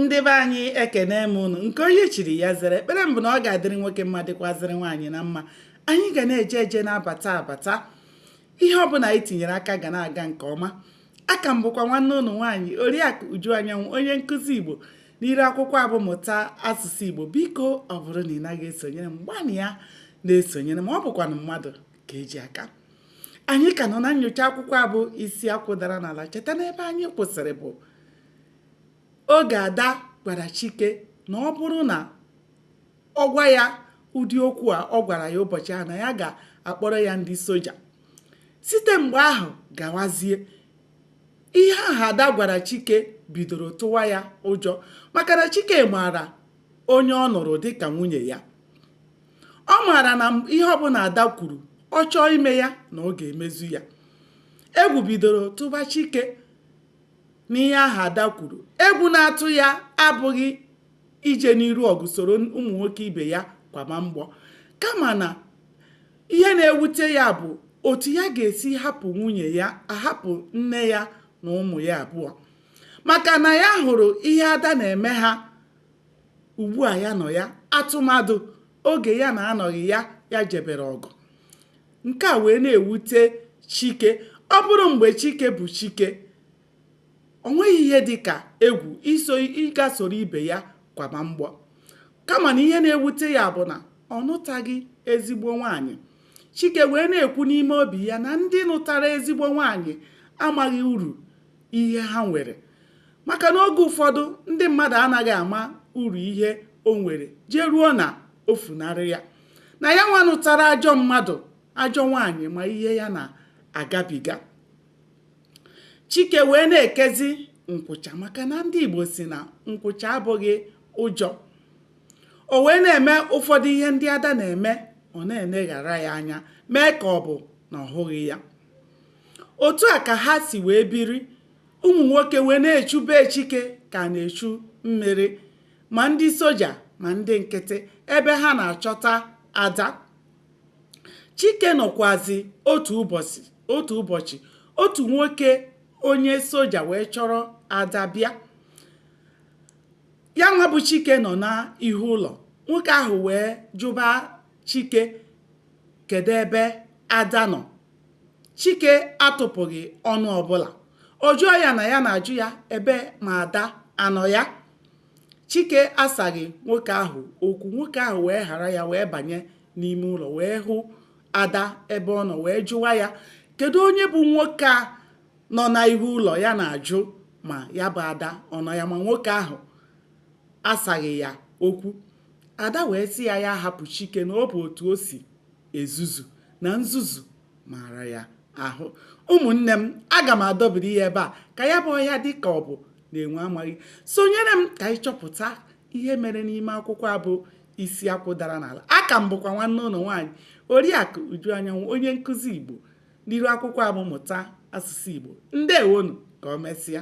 ndị be anyị ekene m ụnụ nke onye chiri ya zere ekpere m bụ na ọ ga-adịrị nwoke mma dịkwazịrị nwaanyị na mma anyị ga na-eje eje na-abata abata ihe ọbụla anyị tinyere aka ga na-aga nke ọma a ka m bụkwa nwanne ụnụ nwaanyị oriakụ uju anyanwụ onye nkụzi igbo n'iru akwụkwọ a bụ mụta asụsụ igbo biko ọ bụrụ na ị naghị esonyere m gbanịa na-esonyere m ọ bụkwanụ mmadụ ka e ji aka anyị ka nọ na nnyocha akwụkwọ a bụ isi akwụ dara n'ala cheta na ebe anyị kwụsịrị bụ Oge Ada gwara Chike na ọ bụrụ na ọ gwa ya ụdị okwu a ọ gwara ya ụbọchị ahụ na ya ga-akpọrọ ya ndị soja. Site mgbe ahụ gawazie, ihe ahụ Ada gwara Chike bidoro tụwa ya ụjọ maka na Chike maara onye ọ nụrụ dịka nwunye ya. Ọ maara na ihe ọbụla Ada kwuru, ọ chọọ ime ya na ọ ga-emezu ya. Egwu bidoro tụba Chike n'ihe ahụ Ada kwuru. Egwu na-atụ ya abụghị ije n'iru ọgụ soro ụmụ nwoke ibe ya kwama mgbọ, kama na ihe na-ewute ya bụ otu ya ga-esi hapụ nwunye ya hapụ nne ya na ụmụ ya abụọ maka na ya hụrụ ihe Ada na-eme ha ugbu a ya nọ ya tụmadụ oge ya na-anọghị ya ya jebere ọgụ. nke a wee na-ewute chike ọ bụrụ mgbe chike bụ chike o nweghị ihe dị ka egwu ịga soro ibe ya kwama mgbọ kama na ihe na-ewute ya bụ na ọ nụtaghị ezigbo nwaanyị chike wee na-ekwu n'ime obi ya na ndị nụtara ezigbo nwaanyị amaghị uru ihe ha nwere maka na oge ụfọdụ ndị mmadụ anaghị ama uru ihe o nwere jee ruo na o funarị ya na ya nwa nụtara ajọ mmadụ ajọ nwaanyị ma ihe ya na-agabiga chike wee na-ekezi nkwụcha maka na ndị igbo sị na nkwụcha abụghị ụjọ o wee na-eme ụfọdụ ihe ndị ada na-eme ọ na-eneghara ya anya mee ka ọ bụ na ọ hụghị ya otu a ka ha si wee biri ụmụ nwoke wee na-echube chike ka a na-echu mmiri ma ndị soja ma ndị nkịtị ebe ha na-achọta Ada. Chike nọkwazi otu ụbọchị otu nwoke onye soja wee chọrọ Ada bịa. Ya nwa bụ Chike nọ n'ihu ụlọ. Nwoke ahụ wee jụba Chike kedu ebe Ada nọ. Chike atụpụghị ọnụ ọbụla. Ọ jụọ ya na ya na-ajụ ya ebe ma Ada anọ ya. chike asaghị nwoke ahụ okwu nwoke ahụ wee ghara ya wee banye n'ime ụlọ wee hụ ada ebe ọ nọ wee jụwa ya kedu onye bụ nwoke a nọ n'iru ụlọ ya na-ajụ ma ya bụ ada ọ nọ ya ma nwoke ahụ asaghị ya okwu ada wee sị ya ya hapụ chike na ọ bụ otu o si ezuzu na nzuzu maara ya ahụ ụmụnne m aga m adọbiri ya ebe a ka ya bụ ọhịa dị ka ọ bụ na enwe amaghị sonyere m ka anyị chọpụta ihe mere n'ime akwụkwọ a bụ isi akwụ dara n'ala aka m bụkwa nwanne unu nwaanyị oriakụ uju anyanwụ onye nkụzi igbo n'iru akwụkwọ a bụ mụta asụsụ igbo ndewonu ka ọ mesịa